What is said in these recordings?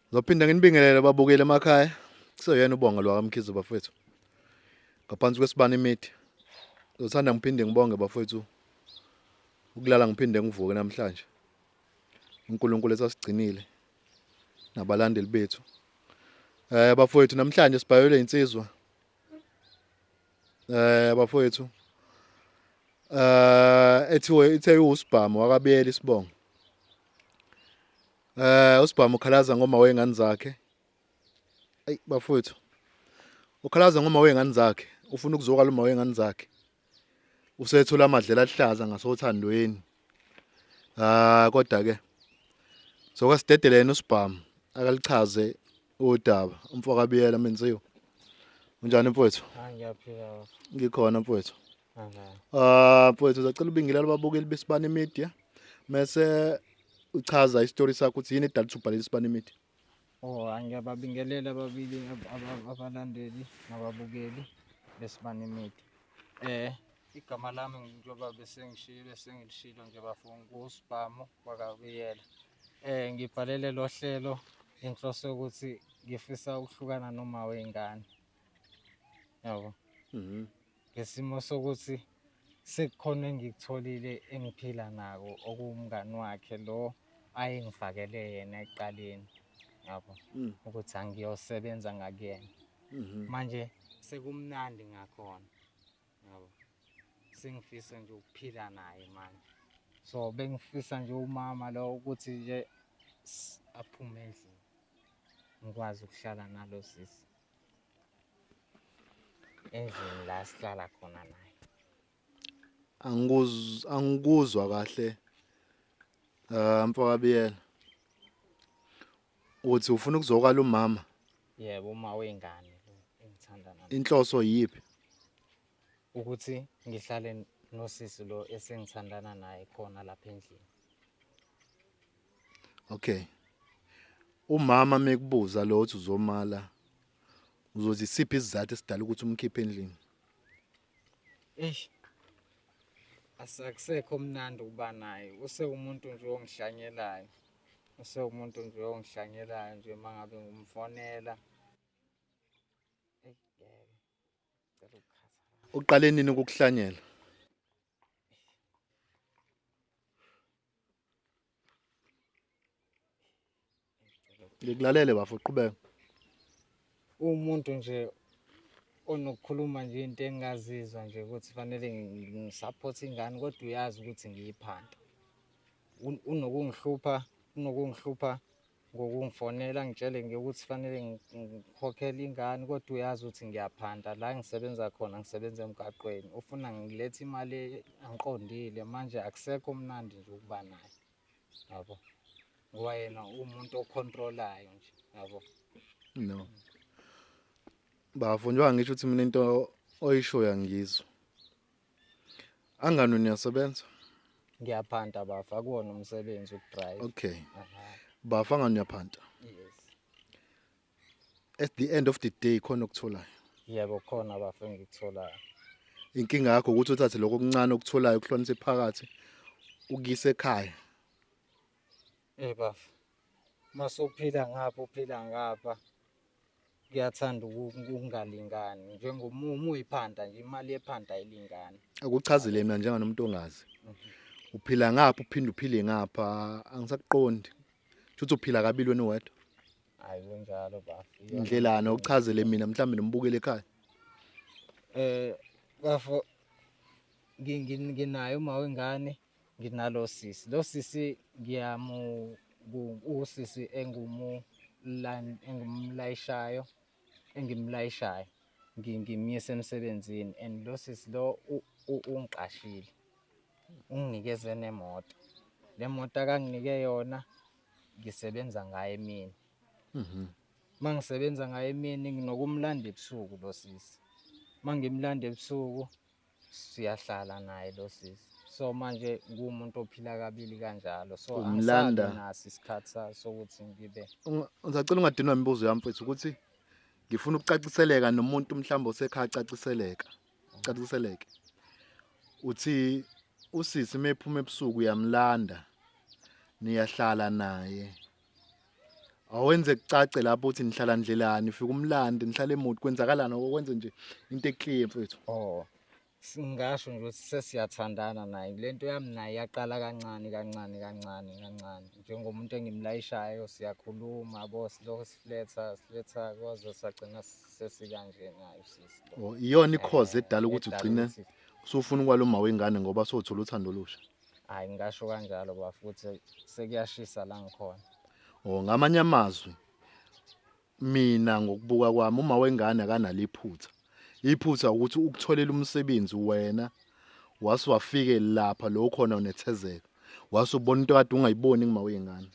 Ngizophinda nginibingelele babukeli emakhaya. Kuseyena ubonga lwakamkhize bafethu. Ngaphansi kwesibani imithi. Ngizothanda ngiphinde ngibonge bafethu. Ukulala ngiphinde ngivuke namhlanje. uNkulunkulu esasigcinile nabalandeli bethu. Eh bafethu namhlanje sibhayelwe insizwa. eh bafowethu eh ethiwe ithe usibhamu wakabiyela isibongo eh usibhamu ukhalaza ngoma wengane zakhe ayi bafowethu ukhalaza ngoma wengane zakhe ufuna ukuzokala uma wengane zakhe usethola amadlela ahlaza ngasothandweni ah kodwa ke soka sidedelene usibhamu akalichaze Udaba umfoka Biyela menziwe. Unjani mfowethu? Ah ngiyaphila. Ngikhona mfowethu. Ah mfowethu uzacela ubingelela ababukeli besibani media. Mese uchaza istory sakho ukuthi yini edalisa ubhalela isibani media. Oh angiyababingelela ababili abalandeli nababukeli besibani media. Eh igama lami njengoba besengishilo esengilishilo nje bafunga uSibhamu wakabiyela. Eh ngibhalele lo hlelo inhloso yokuthi ngifisa ukuhlukana noma wengane. Yabo. Mhm. Ngesimo sokuthi sekukhona engikutholile engiphila nako okuwumngani wakhe lo ayengifakele yena ekuqaleni. Yabo. Mm. Ukuthi angiyosebenza ngakuyena. Mhm. Manje sekumnandi ngakhona. yabo sengifisa nje ukuphila naye manje so bengifisa nje umama lo ukuthi nje aphume endlini ngikwazi ukuhlala nalo sisi endlini la sihlala khona naye angikuzwa angikuzwa kahle eh mfaka biyela Uthi ufuna ukuzokala umama? Yebo, uma wengane lo engithanda naye. Inhloso yiphi? Ukuthi ngihlale nosisi lo esengithandana naye khona lapha endlini. Okay. Umama mekubuza lo uthi uzomala uzothi siphi isizathu esidala ukuthi umkhiphe endlini? Eish. Asakusekho mnandi ukuba naye. Use umuntu nje ongihlanyelayo. Use umuntu nje ongihlanyelayo nje mangabe ngumfonela. Uqale nini ukukuhlanyela? ngikulalele bafo uqhubeka umuntu nje onokukhuluma nje into engingazizwa nje ukuthi fanele ngisaphothe ingane kodwa uyazi ukuthi ngiyiphanda unokungihlupha unokungihlupha ngokungifonela ngitshele nje ukuthi fanele ngikhokhele ingane kodwa uyazi ukuthi ngiyaphanda la ngisebenza khona ngisebenza emgaqweni ufuna ngilethe imali angiqondile manje akusekho mnandi nje ukuba naye yabo ngoba yena umuntu ocontrolayo nje yabo no bafo njengoba ngisho ukuthi mina into oyishoyo angizwa Angano niyasebenza? Ngiyaphanta bafa kuwona umsebenzi ukudrive. Okay. Bafa ngani uyaphanta? Yes. At the end of the day khona okutholayo. Yebo khona bafa engikutholayo. Inkinga yakho ukuthi uthathe lokho okuncane okutholayo ukuhlonise phakathi ukuyise ekhaya. Eh bafa. Masuphila ngapha uphila ngapha. kuyathanda ukungalingani njengomumu uyiphanda nje imali yephanda ayilingani akuchazile mina njenganomuntu ongazi mhm. uphila ngapha uphinde uphile ngapha angisakuqondi shuthi uphila kabili wena wedwa hayi kunjalo bafo indlelana ukuchazele mina mhlawumbe nombukele ekhaya eh bafo nginayo uma wengane nginalo sisi lo sisi ngiyamu usisi engumlayishayo engimlayishayo ngimyisa emsebenzini and lo sisi lo ungiqashile unginikeze nemoto le moto akanginike yona ngisebenza ngayo emini mhm. uma ngisebenza ngayo emini nginokumlanda ebusuku lo sisi uma ngimlanda ebusuku siyahlala naye lo sisi so manje kuwumuntu ophila kabili kanjalo so Umlanda. angisabi naso isikhathi sa- sokuthi ngibe Unga- Ngisacela ungadinwa imibuzo yami mfethu ukuthi ngifuna ukucaciseleka nomuntu mhlawumbe osekhaya acaciseleka. Caciseleke. Uthi usisi mephuma ebusuku uyamlanda. Niyahlala naye. awenze kucace lapho uthi nihlala ndlelani ufika umlandi nihlala emuti kwenzakalani okwenze nje into eclear mfethu oh singasho nje ukuthi sesiyathandana naye le nto yami naye yaqala kancane kancane kancane kancane njengomuntu engimlayishayo siyakhuluma bo silokho sifuletha sifuletha kwaze sagcina sesikanje naye usisi oh, iyona ikhozi edala ukuthi ugcine usufuna ukwaluma wengane ngoba sothola uthando olusha hayi ngasho kanjalo ba futhi sekuyashisa la ngikhona oh ngamanye amazwi mina ngokubuka kwami uma wengane akanalo iphutha iphutha ukuthi ukutholela umsebenzi wena wase wafike lapha lo khona unethezeka wase ubona into kade ungayiboni ngima wengane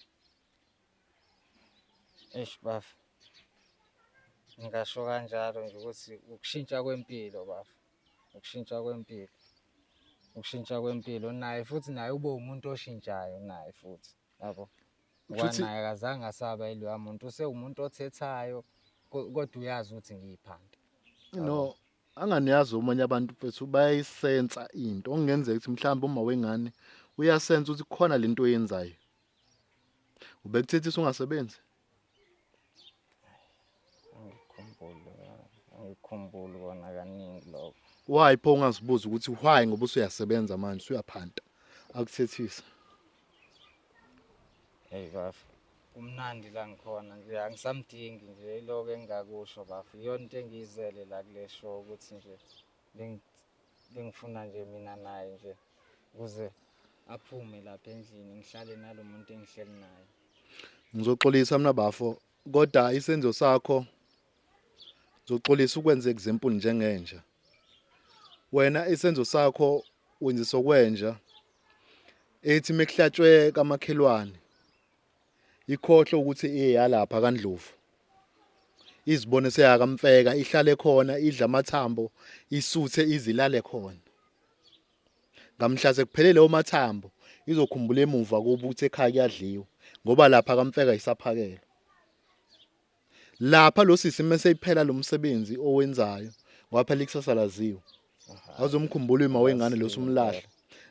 eish baf ngasho kanjalo nje ukuthi ukushintsha kwempilo baf ukushintsha kwempilo ukushintsha kwempilo naye futhi naye ube umuntu oshintshayo naye futhi yabo kwanaye akazange asaba iloya muntu usewumuntu othethayo kodwa uyazi ukuthi ngiyiphanda no anganiyazi omunye abantu mfethu bayayisensa into okungenzeka ukuthi mhlawumbe uma wengane uyasensa ukuthi khona lento oyenzayo ubekuthetha ungasebenzi angikhumbuli kona kaningi lokho why pho ungazibuza ukuthi why ngoba usuyasebenza manje usuyaphanta akuthethisa hey bafu kumnandi la ngikhona nje angisamdingi nje iloko engingakusho bafu iyona into engiyizele la kule show ukuthi nje bengifuna nje mina naye nje ukuze aphume lapha endlini ngihlale nalo muntu engihleli naye ngizoxolisa mina bafo kodwa isenzo sakho ngizoxolisa ukwenze example njengenja wena isenzo sakho wenzisa okwenja ethi mekuhlatshwe kamakhelwane ikhohle ukuthi iyalapha kaNdlovu izibone seyakamfeka ihlale khona idla amathambo isuthe izilale khona ngamhla sekuphelele omathambo izokhumbula emuva kuba ukuthi ekhaya kuyadliwa ngoba lapha kamfeka isaphakelo lapha lo sisi mase iphela lo msebenzi owenzayo ngoba phela ikusasa laziwe awuzomkhumbula uma wengane lo sumlahla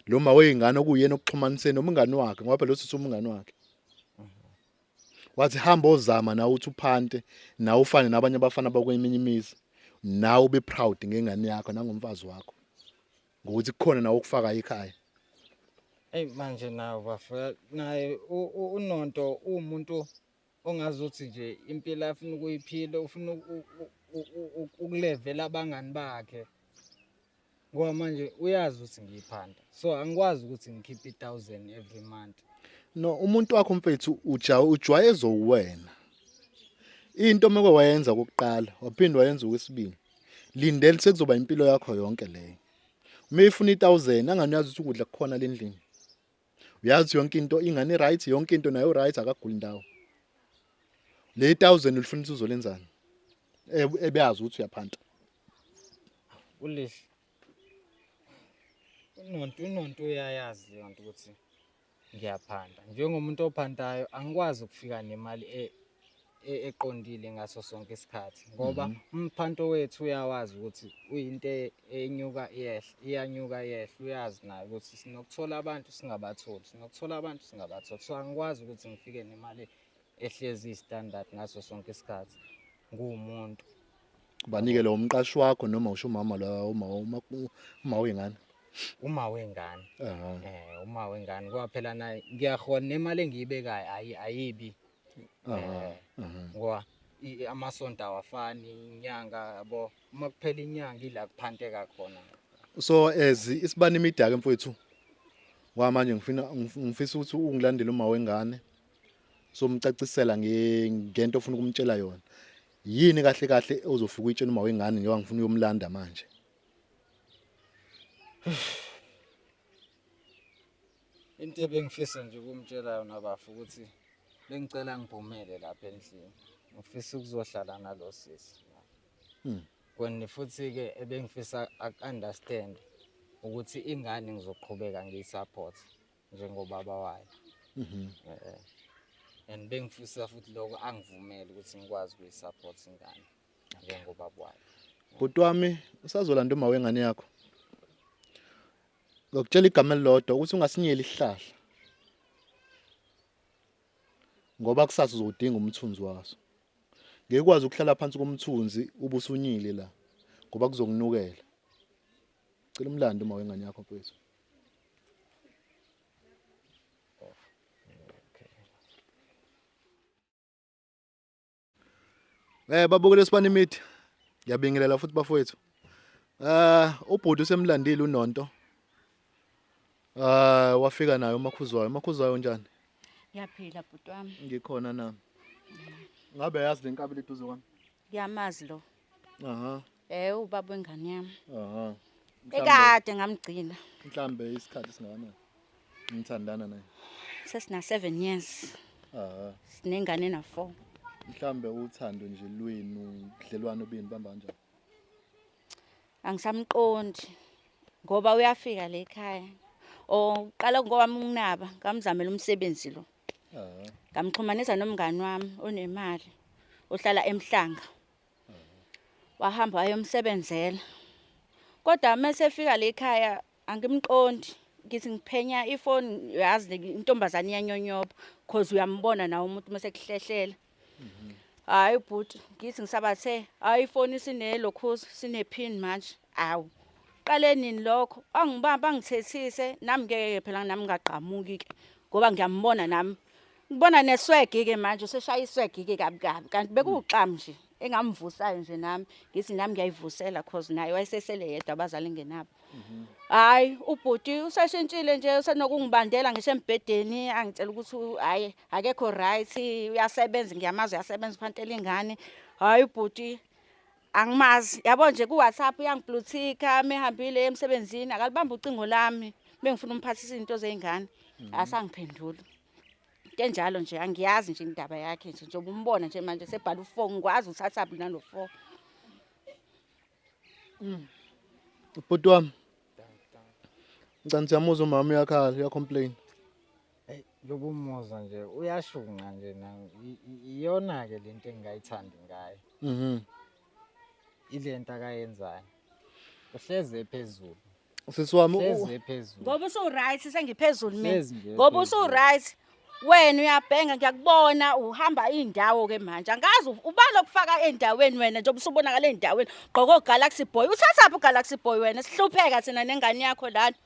lo ma weyingane okuyena okuxhumaniseni nomngani wakhe ngoba phela lo sisi umngani wakhe wathi hamba ozama nawe uthi uphante nawe ufane nabanye abafana bakweminye imizi nawe ube proud ngengane yakho nangomfazi wakho ngokuthi kukhona nawe ukufaka ekhaya Ey manje nawe bafika naye u- u- uNonto uwumuntu ongazuthi nje impilo afuna ukuyiphila ufuna uku- u- u- u- ukulevela abangani bakhe ngoba manje uyazi ukuthi ngiyiphanda so angikwazi ukuthi ngikhiphe i-thousand every month no umuntu wakho mfethu ujawu ujwayezo uwena into uma kwayenza kokuqala waphinde wayenza okwesibili lindele sekuzoba impilo yakho yonke leyo uma ifuna i-thousand angani uyazi ukuthi ukudla kukhona lendlini uyazi yonke into ingane i-right yonke into nayo right akaguli ndawo le thousand ulifuna ukuthi uzolenzani ebeyazi ukuthi uyaphanta ulihle unonto unonto uyayazi leyo nto ukuthi ngiyaphanda njengomuntu ophantayo angikwazi ukufika nemali e, e- eqondile ngaso sonke isikhathi ngoba Mhm. umphanto wethu uyawazi ukuthi uyinto e- enyuka iyehla iyanyuka iyehla uyazi naye ukuthi sinokuthola abantu singabatholi sinokuthola abantu singabatholi so angikwazi ukuthi ngifike nemali ehlezi istandard ngaso sonke isikhathi nguwumuntu Banike lo umqashi wakho noma usho umama la uma uma uma wengane. uma wengane Aha. um uma wengane kwaphela naye ngiyahona nemali engiyibekayo ayi- ayibi eh, ngoba amasonto awafani inyanga yabo uma kuphela inyanga ila kuphanteka khona so as isibani imidaka mfowethu wamanje ngifuna ngifisa ukuthi ungilandele uma wengane somcacisela ngento ofuna ukumtshela yona yini kahle kahle ozofika uyitshela uma wengane njengoba ngifuna uyomlanda manje into ebengifisa nje ukumtshela yona bafo ukuthi bengicela ngibhumele lapha endlini ngifisa ukuzohlala nalo sisi hmm. kwenye futhi-ke ebengifisa aku-understand ukuthi ingane ngizoqhubeka ngiyi-support njengobaba wayo mhm. eh, eh. and bengifisa futhi lokho angivumele ukuthi ngikwazi ukuyi-support ingane njengobaba wayo bhuti wami usazolanda uma wengane yakho ngokutshela igama elilodwa ukuthi ungasinyeli isihlahla ngoba kusasa uzodinga umthunzi waso ngeke ukwazi ukuhlala phansi komthunzi ubusunyile la ngoba kuzokunukela cela umlando uma wengane yakho mfethu Eh babukele sibani imithi. Ngiyabingelela futhi bafowethu. Eh ubhuti usemlandile uNonto. Ah wafika nayo umakhuzwayo. Umakhuzwayo njani? Ngiyaphila bhuti wami. Ngikhona nami. Ngabe yazi lenkabi liduze kwami? Ngiyamazi lo. aha eh ubaba wengane yami aha ekade ngamgcina mhlambe isikhathi singakanani ngithandana naye sesina 7 years aha sinengane na 4 mhlambe uthando nje lwenu ubudlelwano bini bamba kanjani angisamqondi ngoba uyafika le ekhaya oqala ngoba nginaba ngamzamela umsebenzi lo ngamxhumanisa nomngani wami onemali ohlala emhlanga wahamba wayomsebenzela kodwa uma sefika le khaya angimqondi ngithi ngiphenya ifoni yazi intombazane iyanyonyoba cause uyambona nawe umuntu uma sekuhlehlela hayi bhuti ngithi ngisabathe hayi ifoni sinelokhuza sinephini manje awu qale nini lokho angibamba angithethise nami ngeke phela nami ngagqamuki-ke ngoba ngiyambona nami Ngibona neswegi ke manje useshaya iswegi ke kabi kabi kanti bekuwuxam nje engamvusayo nje nami ngithi nami ngiyayivusela cause naye wayesesele yedwa abazali ngenabo hayi ubhuti usashintshile nje usenokungibandela ngisho embhedeni angitshela ukuthi u- hayi akekho right uyasebenza ngiyamazi uyasebenza uphantela ingane hayi ubhuti angimazi yabo nje ku-whatsapp uyangipluthika mehambile emsebenzini akalibambi ucingo lami bengifuna umphathisa izinto zey'ngane asangiphenduli into enjalo nje angiyazi nje indaba yakhe nje njengoba umbona nje manje sebhala u-four ngikwazi uthathaphi nalo four mm. bhuti wami ngicani siyamuzwa umama uyakhala uyacomplain eyi yokumuzwa nje uyashunqa nje iyona-ke le nto engingayithandi ngayo mhm. ile nto akayenzayo uhleze phezulu Sisi wami u- Hlezi nje phezulu. ngoba usu-right sengiphezulu mina Hlezi nje ngoba phezulu. usu-right wena uyabhenga ngiyakubona uhamba iy'ndawo-ke manje angazi u- ubani okufaka ey'ndaweni wena njengoba usubonakala ey'ndaweni gqoke ogalaxy boy uthathaphi ugalaxy boy wena sihlupheka thina nengane yakho lana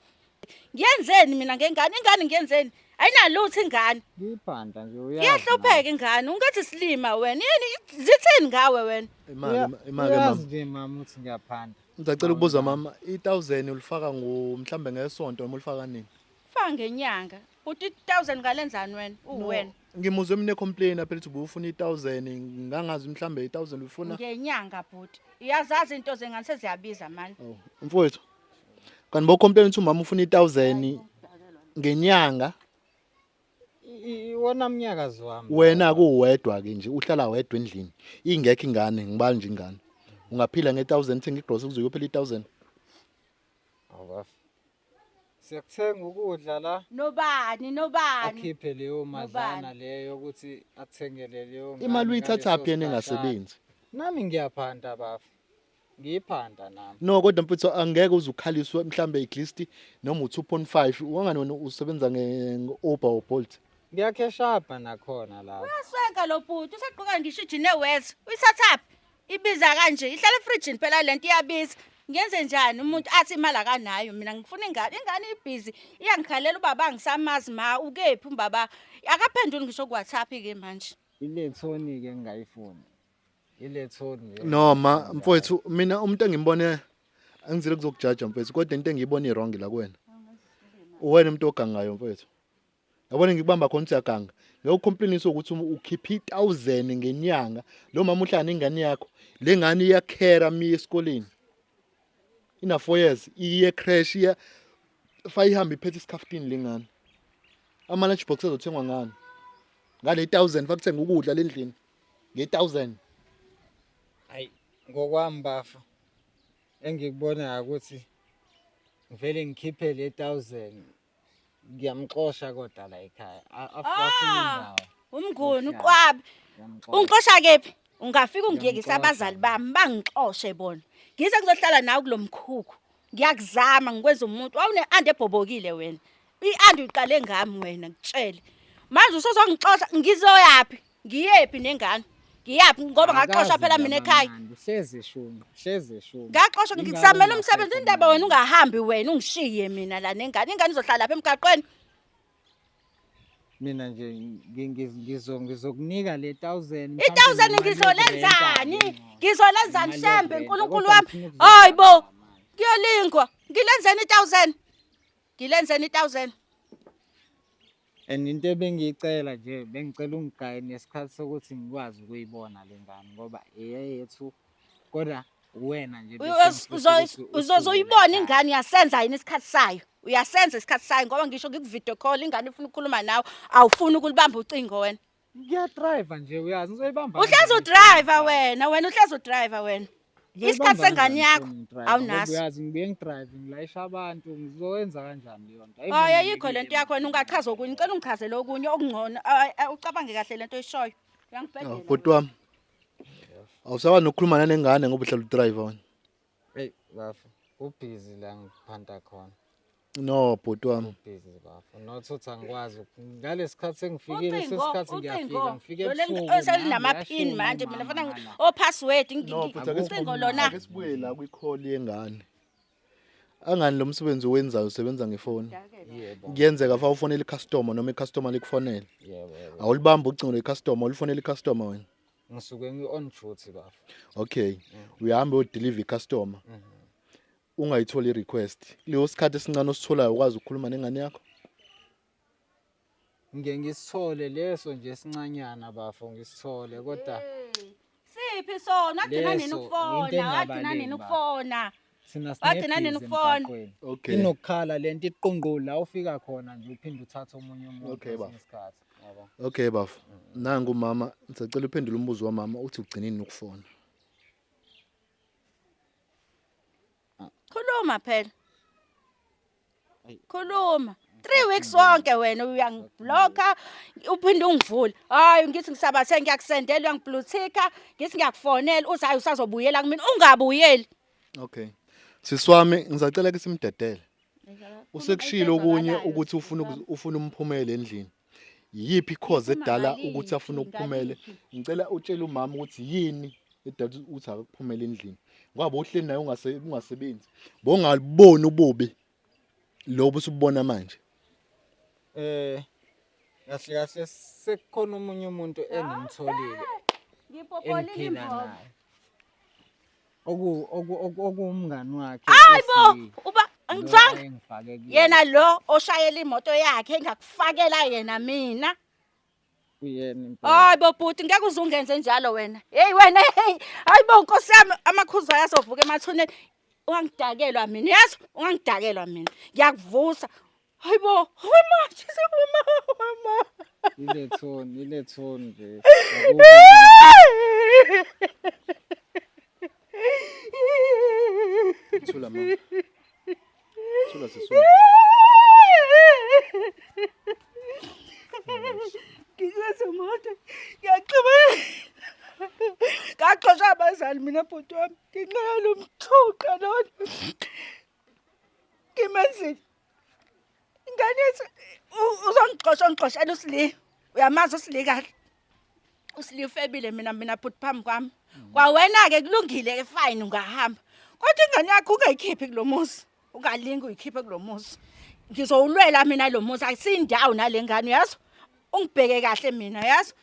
ngiyenzeni mina ngengane ingane ngiyenzeni ayinalutho ingane Ngiyiphandla nje uyazi. iyahlupheka ingane ungathi silima wena yini zithini ngawe wena Imali imali Uyazi mama. nje mama ukuthi ngiyaphandla. Ngicela ukubuza mama, i1000 ulifaka ngo mhlambe ngesonto noma ulifaka nini? Faka ngenyanga. Uthi 1000 ngalenzani wena? Uwena. Ngimuzwe mina complain phela ukuthi ubufuna i1000 ngangazi mhlambe i1000 ufuna. Ngenyanga bhuti. Iyazazi into zengane seziyabiza mani. Oh, mfowethu. Kanti bo complain ukuthi umama ufuna i1000 ngenyanga. iwona mnyakazi wami wena kuwedwa ke nje uhlala wedwa endlini ingekho ingane ngibali nje ingane ungaphila nge-1000 thenga igrosa kuze uyophela i-1000 awubafo siyakuthenga ukudla la nobani nobani akhiphe leyo madlana leyo ukuthi athengele leyo imali uyithathaphi yena engasebenzi nami ngiyaphanda bafo ngiyiphanda nami no kodwa mfutho angeke uzukhaliswe mhlambe iglist noma u2.5 wangani wena usebenza nge-uber or bolt ngiyakheshapha nakhona lapho uyaswenka lo bhuti usegqoka ngisho ijini ewes uyithathaphi ibiza kanje ihlala efrijini phela le nto iyabiza ngenze njani umuntu athi imali akanayo mina ngifuna ingane ingane ibhizi iyangikhalela ubaba angisamazi ma ukephi umbaba akaphenduli ngisho kuwhatsapp-ke manje ile thoni-ke ngingayifuni ile tone nje noma mfowethu mina umuntu engimbone angizile kuzokujaja mfowethu kodwa into engiyibona iwrong la kuwena uwena umuntu ogangayo mfowethu yabona ngikubamba khona siyaganga ngeke ukhomplainise ukuthi um- ukhipha i-thousand ngenyanga lo mama uhlala ingane yakho le ngane iyakhera mi esikoleni ina four years iye crash iya fa ihambe iphethe isikhaftini le ngane ama-lunch box azothengwa ngani ngale thousand fakuthenga ukudla le ndlini nge-1000 hayi ngokwami bafo engikubonayo ukuthi ngivele ngikhiphe le 1000 ngiyamxosha kodwa la ekhaya afasini ah, indawo umnguni uqwabi ungixosha kephi ungafika ungiyekisa abazali bami bangixoshe bona ngize ngizohlala nawe kulomkhukhu ngiyakuzama ngikwenza umuntu wawune ande ebhobokile wena iandi uqale ngami wena ngitshele manje usozongixosha ngizoyaphi ngiyephi nengane ngiyaphi ngoba ngaxoshwa phela mina ekhaya hleze shunqa hleze shunqa ngaxoshwa ngikusamela umsebenzi indaba wena ungahambi wena ungishiye mina la nengane ingane izohlala lapha emgaqweni mina nje ngizokunika le 1000 i 1000 ngizolenzani ngizolenzani shembe uNkulunkulu wami hayibo kuyolingwa ngilenzeni i 1000 Ngilenzeni i-1000. And into ebengiyicela nje bengicela ungigaye nesikhathi sokuthi ngikwazi ukuyibona le ngane ngoba eyethu kodwa uwena nje uzozoyibona ingane uyasenza yini isikhathi sayo uyasenza isikhathi sayo ngoba ngisho ngikuvideo call ingane ifuna ukukhuluma nawe awufuni ukulibamba ucingo wena Ngiyadriver nje uyazi ngizoyibamba. Uhlezi udriver wena, wena uhlezi udriver wena. Isikhathi sengane yakho awunaso. Uyazi ngibuye ngidrive ngilayisha abantu ngizoyenza kanjani leyo nto. Hayi ayikho lento yakho wena ungachaza okunye. Ngicela ungichazele okunye okungcono. Ucabange kahle lento oyishoyo. Uyangibhedela. Bhuti wami. Awusaba nokukhuluma nanengane ngoba uhlala udriver wena. Hey bafo, ubhizi la ngiphanta khona. No bhuti wami. Ubhizi bafo. Not uthi angikwazi ngalesikhathi sengifikile sesikhathi ngiyafika ngifike ebusuku. Oselinama pin manje mina fana o oh, password ngicingo lona. Akesibuye la kwi call yengane. Angani lo msebenzi owenzayo usebenza ngefoni. Kuyenzeka fa ufonela icustomer noma icustomer likufonela. Awulibamba ucingo lecustomer, ulifonela icustomer wena. ngisuke ngi on duty bafo okay mm. uyahambe u deliver customer mm -hmm. ungayitholi request leyo sikhathi esincane ositholayo ukwazi ukukhuluma nengane yakho ngiye ngisithole leso nje sincanyana bafo ngisithole kodwa siphi sona agcina nini ukufona agcina nini ukufona thina Wagcina nini sinebhizi ukufona? emgaqweni. Okay. inokukhala le nto iqungqulu la ufika khona nje uphinde uthathe omunye umuntu Okay, bafo. kwesinye isikhathi yabo Okay bafo. Nangu umama, ngisacela uphendule umbuzo wamama uthi ugcinini ukufona. khuluma phela khuluma three weeks wonke wena uyangibloka uphinde ungivule hayi ngithi ngisabathe ngiyakusendela uyangibluthika ngithi ngiyakufonela uthi hayi usazobuyela kumina ungabuyeli okay sisi wami ngisacela ke simdedele usekushilo okunye ukuthi ufuna ufuna umphumele endlini yiphi cause edala ukuthi afune ukuphumele ngicela utshele umama ukuthi yini edala ukuthi akakuphumele endlini ngoba uhleli naye ungasebenzi bongaliboni ububi lobu usubona manje eh kahle kahle sekukhona omunye umuntu engimtholile ngipopola ingimvoko oku- oku- oku- okuwumngani wakhe Hayi bo, esi- uba lo ngicanga ayengifake kuyena. yena lo oshayela imoto yakhe engakufakela yena mina. Uyena impela. Hayi bo bhuti ngeke uzungenze njalo wena. Hey wena hey. Hayi bo nkosi yami amakhuza ayazovuka emathuneni. Ungangidakelwa mina. Yazi ungangidakelwa mina. Ngiyakuvusa. Hayibo, hayi ma, shise mama, hayi ma. Ile tone, ile tone nje. Thula ma. Thula sisi. Ngizwe mode. Ngiyaxoba. Ngaxosha abazali mina bhuti wami. Nginxele umthuqa lona. Ngimenzile. ingane yethu u- uzongixosha ongixoshela usili uyamazi usili kahle usili ufebile mina mina bhuti phambi kwami kwawena-ke kulungile-ke fine ungahamba kodwa ingane yakho ungayikhiphi kulo muzi ungalingi uyikhiphe kulo muzi ngizowulwela mina lo muzi akusiyindawo nale ngane uyazi ungibheke kahle mina yazi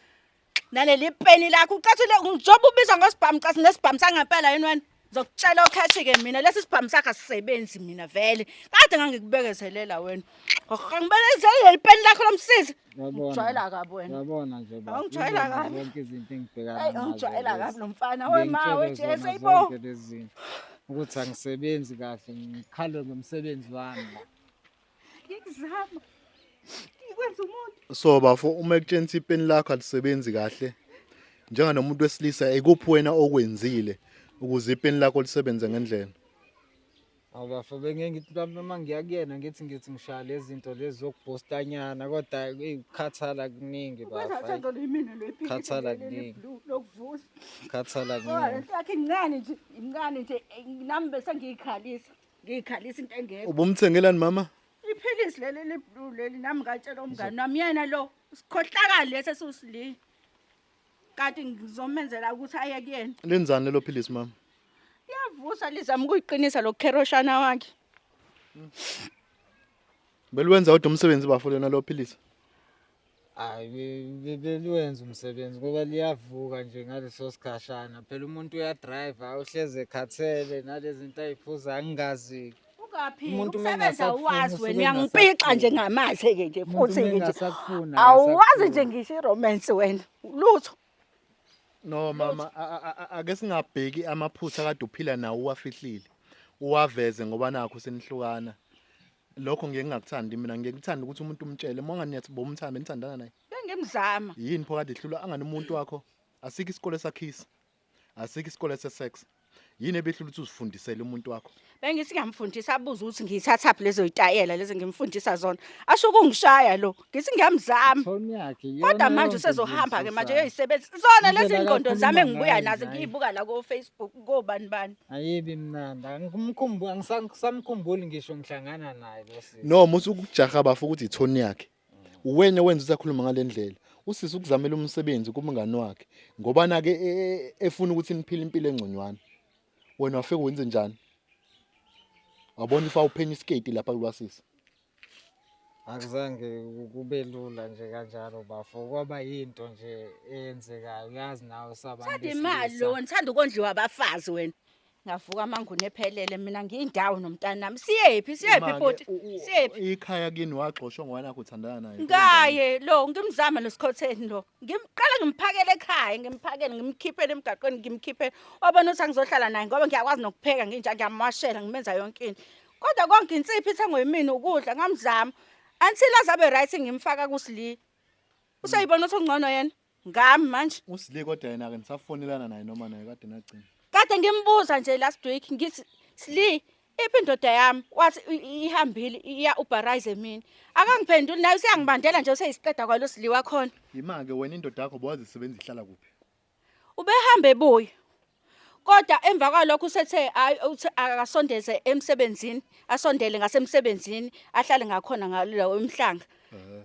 naleli peni lakho ucathile ngijoba ubizwa ngosibhamu cathi nesibhamu sangempela yini wena ngizokutshela okhashi-ke mina lesi sibhamu sakho asisebenzi mina vele kade ngangikubekezelela wena ngibelezele leli peni lakho lomsizi ngijwayela kabi wena yabona nje baba ngijwayela kabi zonke izinto engibhekana nazo ngijwayela kabi lo mfana wema wejesu ayibo ukuthi angisebenzi kahle ngikhalwe ngomsebenzi wami ngikuzama ngikwenza umuntu so bafo uma ekutshengisa ipeni lakho alisebenzi kahle njenganomuntu wesilisa ekuphi wena okwenzile ukuze ipeni lakho lisebenze ngendlela awubafo bengeke ngithi mhlawumbe uma ngiya kuyena ngithi ngithi ngishaya lezi zinto lezi zokubhostanyana kodwa eyi ukukhathala kuningi bafo khathala kuningi khathala kuningi yakhe incane nje incane nje nami bese ngiyikhalisa ngiyikhalisa into engekho ubumthengelani mama iphilisi leli liblue leli nami ngatshela umngane nami yena lo sikhohlakali lesi esiwusilile kanti ngizomenzela ukuthi aye kuyena lenzani lelo philisi mama liyavusa lizama ukuyiqinisa lo kheroshana wakhe belwenza kodwa umsebenzi bafo lona lo philisi hayi liwenza umsebenzi ngoba liyavuka nje ngaleso sikhashana phela umuntu uyadrive uhlezi ekhathele nalezi zinto ayiphuza angingazi umuntu usebenza uwazi wena uyangiphixa nje ngamazi-ke nje futhi nje awuwazi nje ngisho iromance wena lutho no mama ake singabheki amaphutha kade uphila nawo uwafihlile uwaveze ngoba nakho senihlukana lokho ngeke ngakuthandi mina ngeke ngithanda ukuthi umuntu umtshele uma ngani yathi bomthanda nithandana naye bengemzama yini pho kade ihlula angani umuntu wakho asikho isikole sakhisa asikho isikole sesex yini ebehlula ukuthi uzifundisele umuntu wakho bengithi ngamfundisa abuze ukuthi ngiyithathaphi lezo yitayela lezi ngimfundisa zona asho kungishaya lo ngithi ngiyamzama kodwa manje usezohamba ke manje yoyisebenzi zona lezi ngqondo zami engibuya nazo ngiyibuka la ko Facebook kobani bani ayibi mnandi angimkhumbuli angisamkhumbuli ngisho ngihlangana naye lesi no musu ukujaha bafu ukuthi ithoni yakhe uwena wenza usakhuluma ngalendlela usisi ukuzamela umsebenzi kumngani wakhe ngoba nake e, e, e, efuna ukuthi niphile impilo engconywana wena wafika wenze njani wabona ifa uphenya iskate lapha kulwasisi akuzange kube lula nje kanjalo bafo kwaba yinto nje eyenzekayo uyazi nawe sabantu Thanda imali besilisa. lo wena thanda ukondliwa abafazi wena. Ngavuka amanguni ephelele mina ngiyindawo nomntanami. Siyephi siyephi Imake, bhuti? u- u- Siyephi? ikhaya kini wagxoshwa ngwana kho uthandana naye Ngaye lo ngimzama lo sikhotheni lo. Ngimqala ngimphakele ekhaya, ngimphakele ngimkhiphele emgaqweni ngimkhiphele. Wabona ukuthi angizohlala naye ngoba ngiyakwazi nokupheka nginja ngiyamwashela ngimenza yonke into. kodwa konke insipho ithengwe yimina ukudla ngamzama until azabe right ngimfaka kusli useyibona ukuthi ungcono yena ngami manje usli kodwa yena ke nisafonelana naye noma naye kade nagcina kade ngimbuza nje last week ngithi sli iphi indoda yami wathi ihambile iya ubarize mina akangiphenduli naye useyangibandela nje useyisiqeda kwalo sli wakhona yimake wena indoda yakho bowazisebenzisa ihlala kuphi Ubehamba ebuya. Kodwa emva kwalokho usethe hayi akasondeze emsebenzini, asondele ngasemsebenzini, ahlale ngakhona ngalowo emhlanga.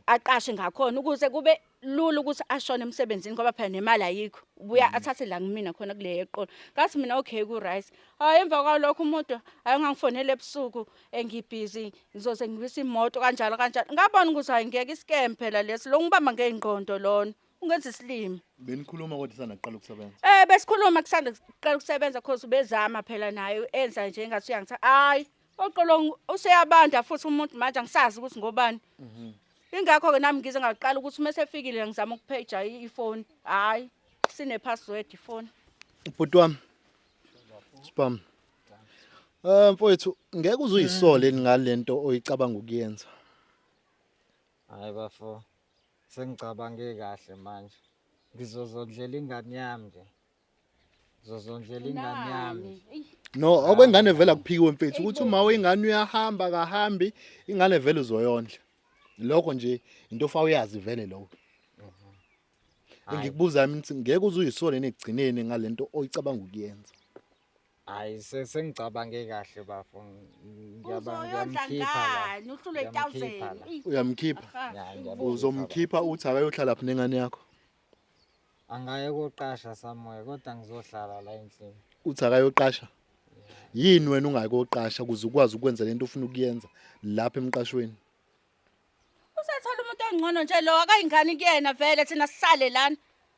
Aqashe ngakhona ukuze kube lula ukuthi ashone emsebenzini ngoba phela nemali ayikho. Ubuya mm. athathe la kumina khona kule yeqolo. Ngathi mina okay ku right. Hayi emva kwalokho umuntu ayengangifonela ebusuku engibhizi ngizoze ngibise imoto kanjalo kanjalo. Ngabona ukuthi hayi ngeke iskempe phela lesi lo ngibamba ngeingqondo lona. ungenza isilima benikhuluma kodwa isanda kuqala ukusebenza eh besikhuluma kusanda kuqala ukusebenza cause ubezama phela naye enza nje ngathi uyangitha hayi oqolo useyabanda futhi umuntu manje angisazi ukuthi ngobani mhm. ingakho ke nami ngize ngaqala ukuthi uma sefikile ngizama ukupheja ifoni hayi sine password ifoni ubhuti wami spam eh mfowethu ngeke uzuyisole ngalento oyicabanga ukuyenza Hayi bafo. Sengicabange kahle manje. Ngizozondlela ingane yami nje. Ngizozondlela ingane yami. No, okwengane vela kuphikiwe mfethu ukuthi uma wengane uyahamba kahambi ingane vele uzoyondla. Lokho nje into ofa uyazi vele lokho. Engikubuza mina ukuthi ngeke uzuyisole negcineni ngalento oyicabanga ukuyenza. Hayi se- sengicabange kahle bafo. Ngiyaba- Uzoyondla Ngiyamkhipha la. ngani uhlule Ngiyamkhipha thousand. la. Ih, uyamkhipha aha. Ya, ngiyamkhipha la. uzomkhipha uthi akayohlala phi nengane yakho Angaye koqasha somewhere kodwa ngizohlala la endlini. uthi akayoqasha yini wena ungayi koqasha ukuze ukwazi ukwenza lento ofuna ukuyenza lapha emqashweni Usethola umuntu ongcono nje lo akayingani kuyena vele thina sisale lana.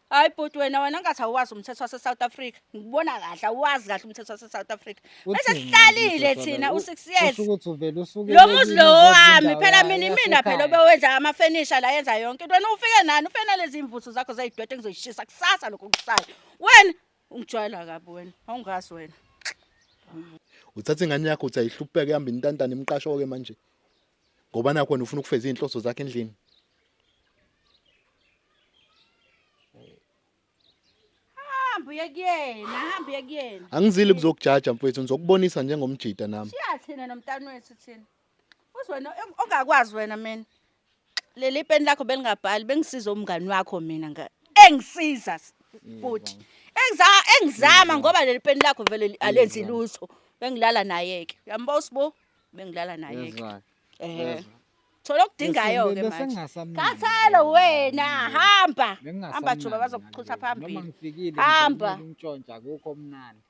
Hayi bhuti wena wena ngathi awazi umthetho wase South Africa. Ngibona kahle awazi kahle umthetho wase South Africa. Bese sihlalile thina u 6 years. Ukuthi uvele usuke Lo muzi lo wami phela mina imina phela obewenza ama furniture la yenza yonke into. Wena ufike nani ufena lezi imvuthu zakho zayidwete ngizoyishisa kusasa lokho kusala. Wena ungijwayela kabi wena awungazi wena. Uthatha ingane yakho uthi ayihlupheke ihamba intantana imqasho ke manje. ngoba nakho wena ufuna ukufeza izinhloso zakhe endlini hamba uye kuyena hamba uye kuyena angizile kuzokujaja mfowethu ngizokubonisa njengomjita nami shiya thina nomntana wethu thina uzwena ongakwazi wena mina leli peni lakho belingabhali bengisiza umngani wakho mina nga engisiza futhi engiza engizama ngoba leli peni lakho vele alenzi lutho bengilala naye ke uyambosa bo bengilala naye ke eh thola okudingayo ke manje khathalo wena hamba hamba juba bazokuchutha phambili noma ngifikile hamba ngintshontsha kukho mnandi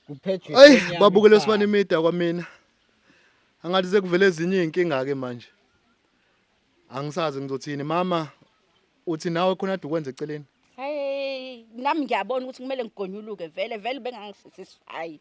kuphethwe ayi babukele sibani imida kwamina angathi sekuvele ezinye izinkinga ke manje angisazi ngizothini mama uthi nawe khona ade ukwenza eceleni hey nami ngiyabona ukuthi kumele ngigonyuluke vele vele bengangisisify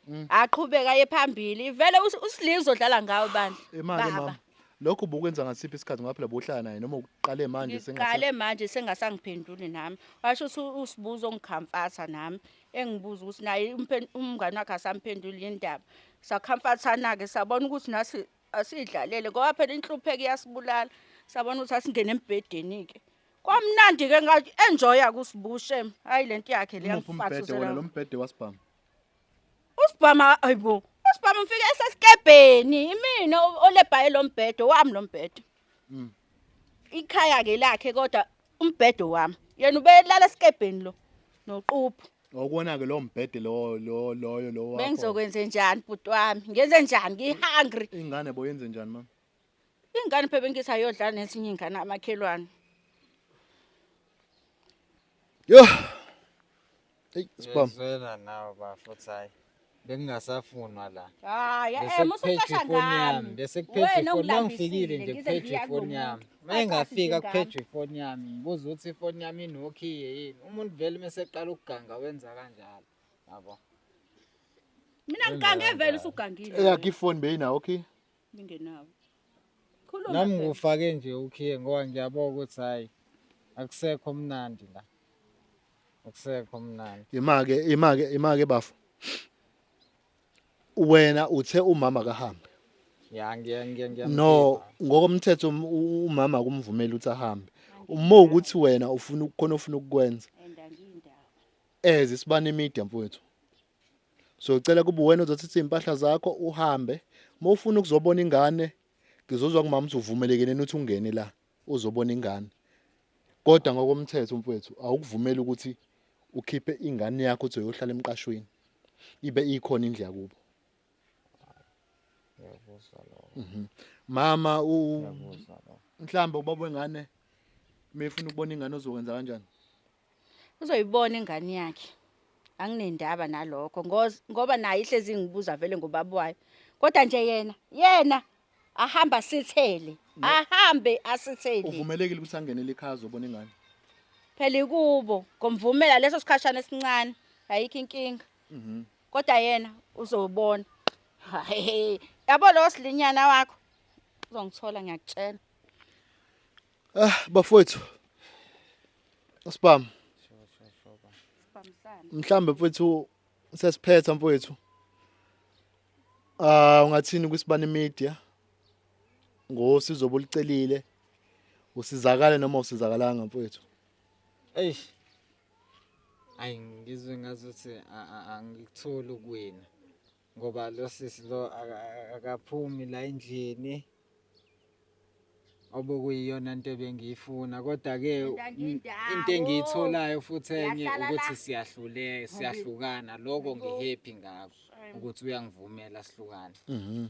mm. aqhubeka ye phambili vele usilinzo dlala ngawo bandla imali mama lokho ubukwenza ngasiphi isikhathi ngaphela bohlala naye noma uqale manje sengaseqale manje sengasangiphenduli nami washo ukuthi usibuzo ngikhamfatha nami engibuza ukuthi naye umngani wakhe asamphenduli yindaba sakhamfathana ke sabona ukuthi nasi asidlalele ngoba phela inhlupheko iyasibulala sabona ukuthi asingene embhedeni-ke kwamnandi-ke ngathi enjoya kusibushe hhayi le nto yakhe le Umuphi umbhede wona yangifasuzela lo mbhede wasibhamu usibhama ayibo usibhama mfike esesikebheni imina o- olebhaye lo mbhede wami lo mbhede Mm. Ikhaya ke lakhe kodwa umbhedo wami. Yena ubelala esikebheni lo noquphu. Ngokubona ke lo mbhede lo lo loyo lo wakho. Bengizokwenze njani bhuti wami? Ngenze njani? Ngi hungry. Ingane bo yenze njani mama? Ingane phebe ngisa yodla nesinye ingane amakhelwane. Yo. Hey, spam. Ngizwela nawe bafo ukuthi hayi bengingasafunwa la. Hayi, eh Bese musa kuphethe ucasha ifoni yami. ngami. Bese kuphethe Wena ifoni. Uma ungilambisile, ngifikile nje ngize kuphethe ngiya ifoni kulo yami. muntu. Uma engafika Acashe kuphethe ifoni yami. Ngibuza ukuthi ifoni yami inokhiye yini. Umuntu vele uma eseqala ukuganga wenza kanjalo. Yabo. Mina ngikange vele usugangile. Eyakhe ifoni beyinawo okay. Ningenawo. Khuluma. Nami Bheka. ngufake nje ukhiye ngoba ngiyabona ukuthi hayi akusekho mnandi la. Akusekho mnandi. Imake imake imake bafo. Wena uthe umama kahambe. Ya ngiya ngiya ngiya. No, ngokomthetho um- u- umama kumvumela ukuthi ahambe. Uma ukuthi wena ufuna ukukhona ofuna ukukwenza And angiyindawo. as isibani media mfowethu. so ucela kuba wena uzothatha impahla zakho uhambe uma ufuna ukuzobona ingane ngizozwa kumama ukuthi uvumelekene ukuthi ungene la uzobona ingane kodwa ngokomthetho mfowethu awukuvumeli ukuthi ukhiphe ingane yakho uthi uyohlala emqashweni ibe ikhona indlu yakubo mhm. mama u mhlawumbe ubaba wengane mefuna ukubona ingane ozokwenza kanjani uzoyibona ingane yakhe anginendaba nalokho ngoba naye ihlezi ingibuza vele ngobaba wayo kodwa nje yena yena ahamba sithele ahambe asithele uvumelekile ukuthi angenele ikhaya zobona ingane phela ikubo ngomvumela leso sikhashana esincane ayikho inkinga mhm. kodwa yena uzobona yabo lo silinyana wakho uzongithola ngiyakutshela Ah bafowethu. Asibam. Mhlambe mfowethu sesiphetha mfowethu. Ah ungathini kwisibani media? Ngosizo bolicelile. Usizakale noma usizakalanga mfowethu. Eish. Ayi ngizwe ngazuthi angikutholi kuwena. ngoba lo sisi lo akaphumi la endlini obokuyiyona into ebengiyifuna kodwa-ke into engiyitholayo futhi enye ukuthi siyahlule siyahlukana lokho ngihappy ngakho ukuthi uyangivumela sihlukane mhm.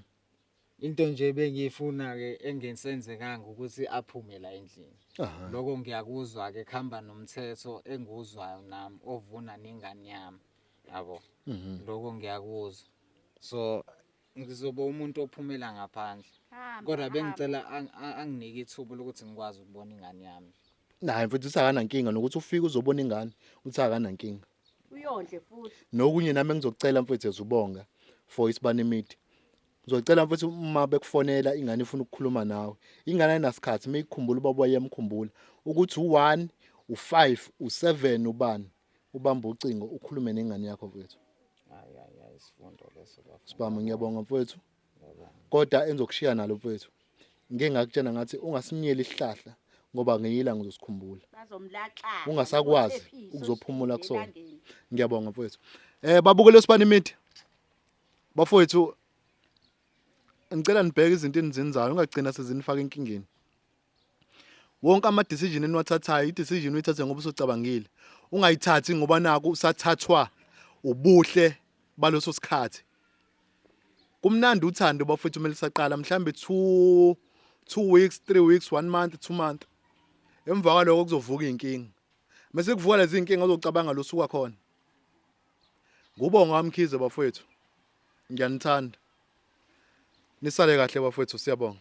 into nje bengiyifuna ke engisenzekanga ukuthi aphume la endlini lokho ngiyakuzwa ke khamba nomthetho enguzwayo nami ovuna nengane yami yabo mhm. lokho ngiyakuzwa so ngizoba umuntu ophumela ngaphandle kodwa bengicela anginike ithuba lokuthi ngikwazi ukubona ingane yami naye mfethu uthi akanankinga nokuthi ufike uzobona ingane uthi akanankinga uyondle futhi nokunye nami engizokucela mfethu ezubonga for isibani media Ngizocela mfethu uma bekufonela ingane ifuna ukukhuluma nawe. Ingane ayinasikhathi uma ikukhumbula ubaba wayemkhumbula ukuthi u-1, u-5, u-7 ubani ubamba ucingo ukhulume nengane yakho mfethu. Hayi hayi hayi isifundo leso bafo. Sibami ngiyabonga mfethu. Kodwa enzokushiya nalo mfethu. Ngike ngakutshena ngathi ungasimnyeli isihlahla ngoba ngiyila ngizosikhumbula. Bazomlaxa. Ungasakwazi ukuzophumula kusona. Ngiyabonga mfethu. Eh babukele sibani imithi? bafowethu ngicela nibheke izinto enizenzayo ungagcina sezinifaka enkingeni wonke ama decision eniwathathayo i decision uyithathe ngoba usocabangile ungayithathi ngoba naku usathathwa ubuhle baloso sikhathi kumnandi uthando bafethu kumele saqala mhlambe 2 2 weeks 3 weeks 1 month 2 month emva kwaloko kuzovuka inkinga mase kuvuka lezi inkinga uzocabanga losuka khona Ngubonga wamkhize bafowethu. Ngiyanithanda. Nisale kahle bafowethu siyabonga.